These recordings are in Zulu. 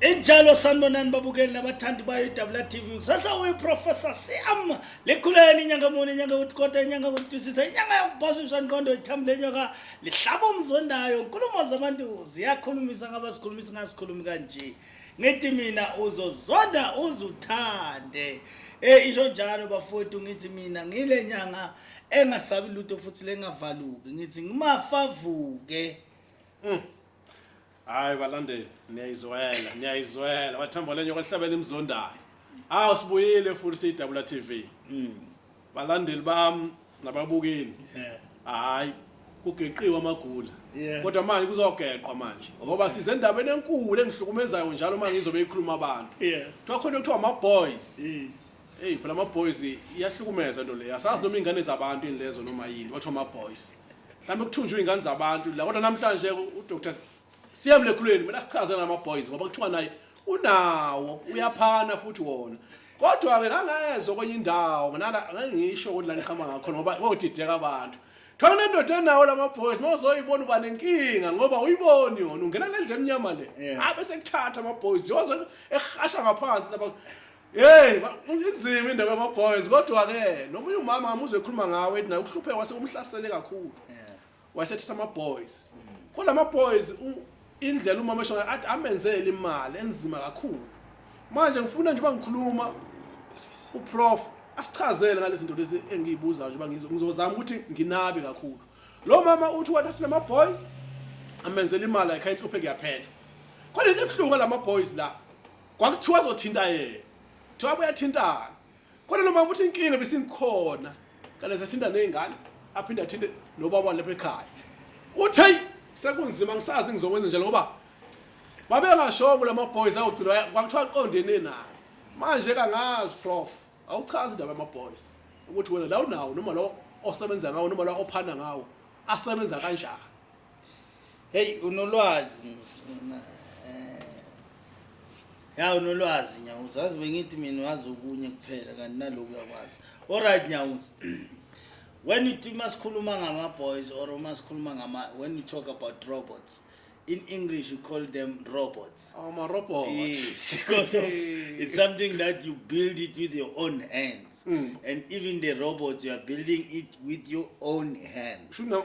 injalo sanibonani babukeli nabathandi bayo idabula tv kusasa uyiprofessor cm likhuleni inyanga muni inyanga yokuthikota inyanga yokutusisa inyanga yokuphashiswa nqondo ithambi lenyoka lihlaba umzondayo nkulumo zabantu ziyakhulumisa ngabasikhulumisa ingasikhulumi kanje ngithi mina uzozonda uzuthande um isho njalo bafowethu ngithi mina ngile nyanga engasabi lutho futhi lengavaluki ngithi ngimafavuke mm. hayi balandeli niyayizwela niyayizwela bathemba lenye kwahlabela imzondayo awu sibuyile futhi siyidabula tv mm. balandeli bami nababukeli hayi kugeqiwe amagula kodwa manje kuzogeqwa manje ngoba size endabeni enkulu engihlukumezayo njalo uma ngizobe ikhuluma abantu kuthiwa khona kuthiwa ama-boys Hey phela ama boys iyahlukumeza into le. Asazi noma ingane zabantu ini lezo noma yini bathiwa ama boys. Mhlawumbe kuthunjwe ingane zabantu la kodwa namhlanje u Dr. Siyamle khulweni mina sichaze nama boys ngoba kuthiwa naye unawo uyaphana futhi wona. Kodwa ke ngangezwe kwenye indawo nginala ngisho ukuthi la niqhama ngakho ngoba kodideka abantu. Thola nendoda enawo lama boys mawuzoyibona uba nenkinga ngoba uyiboni yona ungena lendle emnyama le. Yeah. Abe sekuthatha ama boys yozwe ehasha ngaphansi lapha. Hey, inzima indaba yama boys kodwa ke nomunye umama amuzwe ekhuluma ngawe ethi naye uhluphe wase umhlasele kakhulu. Wasethi ama boys. Kodwa ama boys indlela umama esho athi amenzele imali enzima kakhulu. Manje ngifuna nje bangikhuluma uprof asichazele ngalezi zinto lezi engiyibuzayo nje bangizozama ukuthi nginabe kakhulu. Lo mama uthi wathathile ama boys amenzele imali ayikhayihluphe kuyaphela. Kodwa into ebuhlungu lama boys la kwakuthiwa azothinta yena kuthiwa kuyathintana kodwa lo mama uthi inkinga besingikhona kanti sethinta ney'ngane aphinde athinte nobaba lapha ekhaya uthi heyi sekunzima ngisazi ngizokwenza njalo ngoba babengashongo la maboys awugcina kwakuthiwa aqondene nayo manje kangazi prof awuchazi indaba yamaboys ukuthi wena la unawo noma lo osebenza ngawo noma lo ophana ngawo asebenza kanjani Hey unolwazi mina. Eh. Ya unolwazi nyawo uzazi bengithi mina wazi okunye kuphela kanti naloku yakwazi. All right nyawo. When you think masikhuluma ngama boys or masikhuluma ngama when you talk about robots in English you call them robots. Oh my robot. Yes, because of, it's something that you build it with your own hands. Mm. And even the robots you are building it with your own hands. True now.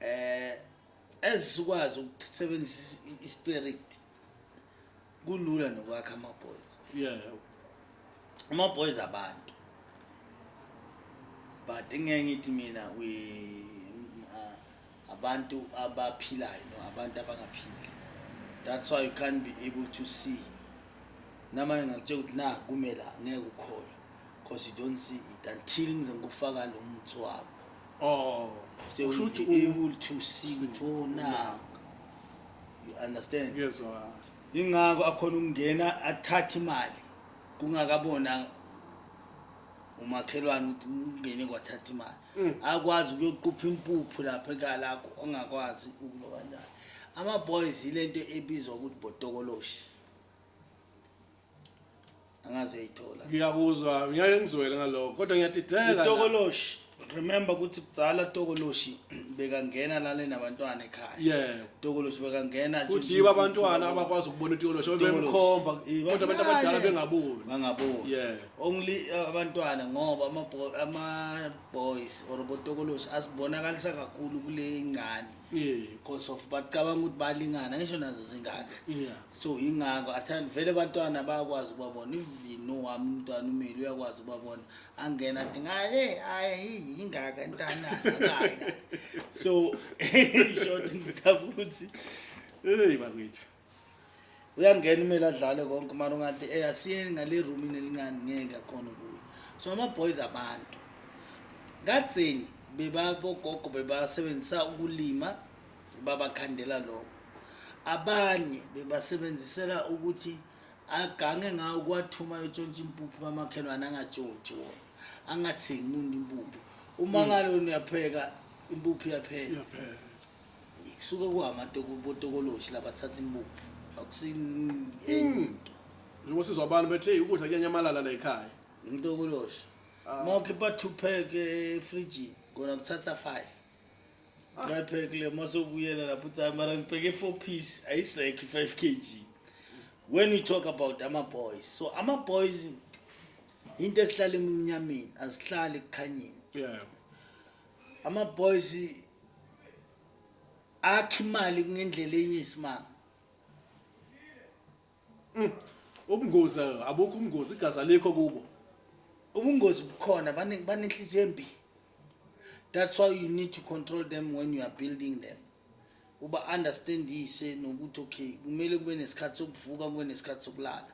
eh ezikwazi ukusebenzisa ispirit kulula nokwakha ama boys yeah ama boys abantu but ngeke ngithi mina we uh, abantu abaphilayo no abantu abangaphili that's why you can't be able to see namanye ngakutshela ukuthi na kumela ngeke ukhole because you don't see it until ngize ngikufaka lo muthi wabo Oh, so Kusho ukuthi you'll be u- able to see ukuthi oh now. You understand? Ngiyezwa. Ingakho akhona ukungena athathe imali kungakabona umakhelwane ukuthi ungene kwathatha imali. Mm. Akwazi ukuyoqupha impuphu lapha ekala akho ongakwazi ukulo kanjani. Ama boys ilento ebizwa ukuthi botokoloshi. angazi uyayithola ngiyakuzwa ngiyaye ngizwele ngaloko kodwa ngiyadideka utokoloshi remember ukuthi kudala tokoloshi bekangena lale nabantwana ekhaya yebo tokoloshi bekangena futhi yiba abantwana abakwazi ukubona utokoloshi bemkhomba kodwa abantu abadala bengaboni bangaboni yebo only uh, abantwana ngoba ama ama boys or botokoloshi asibonakalisa kakhulu kule ngane because of bacabanga ukuthi balingana ngisho nazo zingaka so yingako athanda vele abantwana bayakwazi ukubabona ivino wami umntwana umile uyakwazi ukubabona angena athi ngale hayi yingaka ntana so short ngithafuthi eyi bakwethu uyangena umele adlale konke mara ungathi e asiyeni ngale roomini elincane ngeke akhona ukuyo so ama-boys abantu kadzeni bebabogogo bebasebenzisa ukulima babakhandela lokho abanye bebasebenzisela ukuthi agange ngawo kuwathuma yotshontsha impuphu kamakhelwane angatshotshi wona angathengi umuntu impuphu uma mm. ngalona uyapheka impuphu iyaphela kusuke kuhamatokobotokoloshi labathatha imbuku akusiyenye into njengoba sizwa abantu bethe ukudla kuyanyamalala la ekhaya ngitokoloshi ah. mawukhe ba-two pack efrijini kona kuthatha five ah. try pack le masokubuyela lapho uthi hayi mara ngibheke four piece ayisekho i-five k g when we talk about ama-boys so ama-boys into esihlala emnyameni asihlali ekukhanyeni yeah. ama boys akhe imali kungendlela eyisimanga mm. ubungozi abukho ubungozi igazi alikho kubo ubungozi bukhona banenhliziyo embi that's why you need to control them when you are building them uba understandise nokuthi okay kumele kube nesikhathi sokuvuka kube nesikhathi sokulala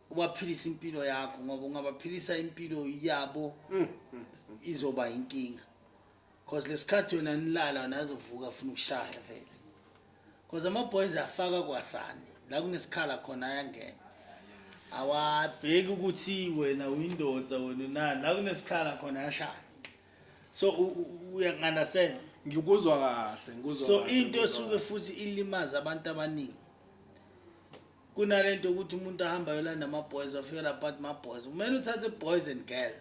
ubaphilise impilo yakho ngoba ungabaphilisa impilo yabo mm, mm, mm. izoba inkinga cause lesikhathi wena nilala nazovuka afuna ukushaya vele cause ama-boys afaka kwasani la kunesikhala khona ayangena awabheki ukuthi wena uyindoda wena unani la kunesikhala khona ayashaya so uyangi-understand ngikuzwa kahle so into esuke futhi ilimaza abantu abaningi kunalento ukuthi umuntu ahamba yolanda ama-boys wafikela but ma-boys kumele uthathe boys and girl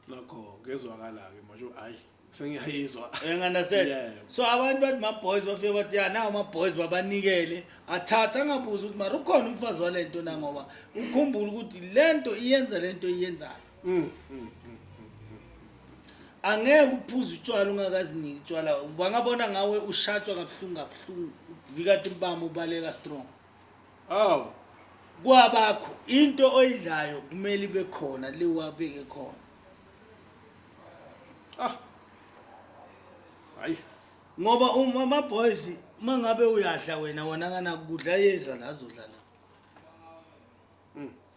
nakho ngezwakala-ke manje hayi sengiyayizwa understand yeah. so abantu bathi ma-boys bafike bathi ya nawo ama-boys babanikele athathe angabuzi ukuthi mara ukhona umfazi wale nto na ngoba ukhumbule ukuthi le nto iyenza le nto iyenzayo Mm, mm, mm, angeke uphuze utshwala ungakaziniki utshwala bangabona ngawe ushatshwa kabuhlungu kabuhlungu uvikati mbama ubaleka strong aw kwabakho into oyidlayo kumele ibe khona liwabeke khona ah hayi ngoba uma ama boys uma ngabe uyadla wena wona kana kudla yeza la zodlala